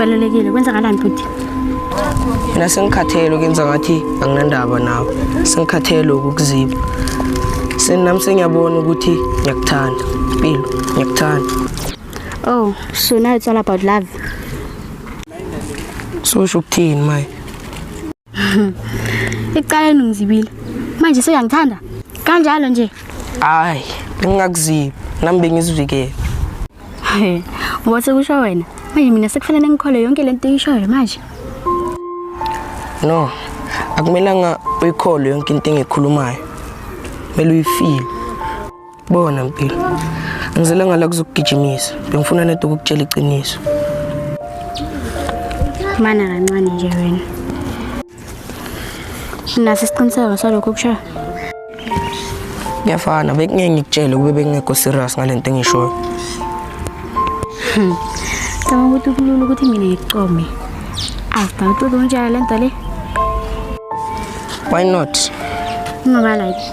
kubalulekile kwenzakalani bhuti mina sengikhathele ukuyenza ngathi anginandaba nawe sengikhathele ukukuziba senami sengiyabona ukuthi ngiyakuthanda mpilo ngiyakuthanda oh so now it's all about love so usho ukuthini maye Ekuqaleni ungizibile. Manje seyangithanda. Kanjalo nje. Hayi, ngingakuzibi. Nami bengizivikele. He, wathi kusho wena. Manje mina sekufanele ngikhole yonke lento eyishoyo manje. No. Akumelanga uyikhole yonke into engikhulumayo. Kumele uyifile. Bona mpilo. Ngizele ngala kuzokugijimisa. Bengifuna nento ukukutshela iqiniso. Mana kancane nje wena. Unaso isiqiniseko salokho kushaya? Kuyafana, bekungeke ngikutshele kube bengekho serious ngalento engishoyo. Cabanga ukuthi kulula ukuthi mina ngikucome. After uqodo unjalo lento le. Why not? Ungaba like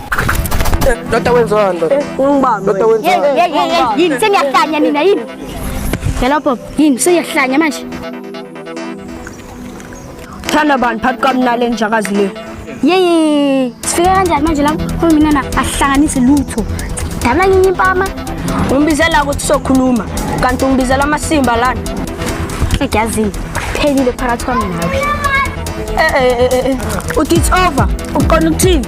Ndoda wenziwa ndoda. Ungibambe. Ndoda wenziwa. Hey, hey, hey, hey, yini seniyahlanya nina yini? Yala Bob, yini seniyahlanya manje? Thanda bani phakathi kwami nale njakazi le. Yey, sifike kanjani manje lapho uhulumeni na ahlanganise lutho. Dabula nyinyi impama. Umbizela ukuthi sokhuluma kanti umbizela amasimba lana. Egazini. Phelile phakathi kwami nawe. Eh eh eh, eh, eh. Uthi it's over. Uqona ukuthini?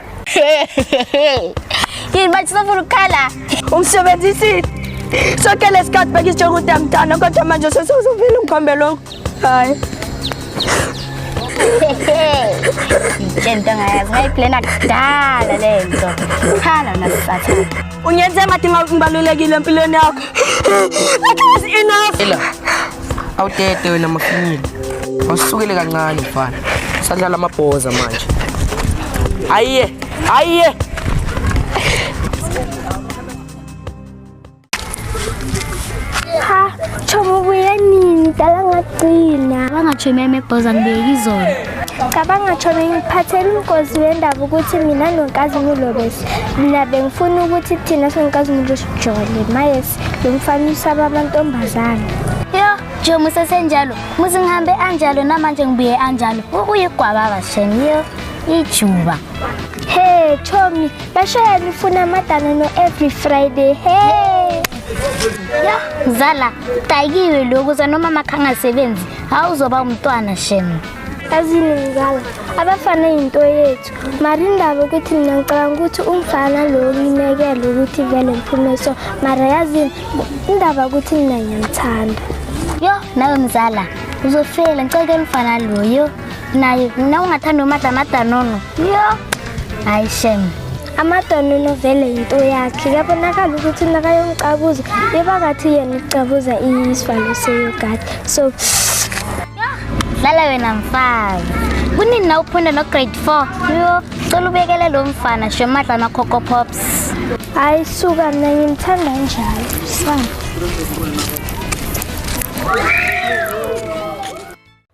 Yini manje sifuna ukukhala? Ungisebenzisile. Sonke lesikhathi bekisitsho ukuthi angithanda kodwa manje sesuzuvile ungikhombe lokho. Hayi. Ngitshela into ngayazi ngayiplena kudala le nto. Khala nasathana. Unyethemba dinga ngibalulekile empilweni yakho. That was enough. Ela. Awutete wena mafinyile. Wasukele kancane mfana. Sadlala amabhoza manje. Ayiye, ayiye. Cha, chobo buya nini? Dala ngagcina. Bangathi meme bhoza ngibeki izolo. cabanga tshona ngiphathela umgozi wendaba ukuthi mina nonkazimulo bese mina bengifuna ukuthi thina sonkazimulo sijole mayesi lo mfana usaba amantombazane yo nje musesenjalo muze ngihambe anjalo namanje ngibuye anjalo uyigwaba basheni yo ijuba hey chomi bashaya nifuna amadana no every friday hey ya zala tayikiwe lokhu zanoma makhangasebenzi hawu uzoba umntwana shemu azini mzala abafana yinto yethu mara indaba ukuthi mina ngicabanga ukuthi umfana lo ngimekele ukuthi vele ngiphume so mara yazini indaba ukuthi mina ngiyamthanda yo nawe mzala uzofela ngiceke umfana loyo naye na ungathanda umadlamadanono yo hayi shemu amadonunu vele yinto yakhe kuyabonakala ukuthi nakayomcabuza bebakathi yena ucabuza isivalo seyogadi so dlala wena mfazi kunini na uphunda nograde four yo cela ubekele lo mfana shomadla amacoco pops hayi suka mna ngimthanda njalo sana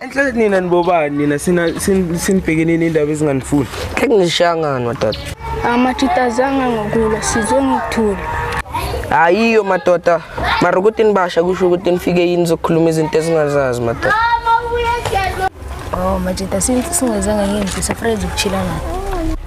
Enhle nina nibobani nina sina sin- sinibhekene nendaba ezinganifuni. Khe ngishangani madoda. Amatshitazanga ngokulwa sizwe ngithule. Hayiyo madoda. Mara ukuthi nibasha kusho ukuthi nifike yini zokukhuluma izinto esingazazi madoda. Oh, majita since singezanga ngenzi safreza ukuchila naye.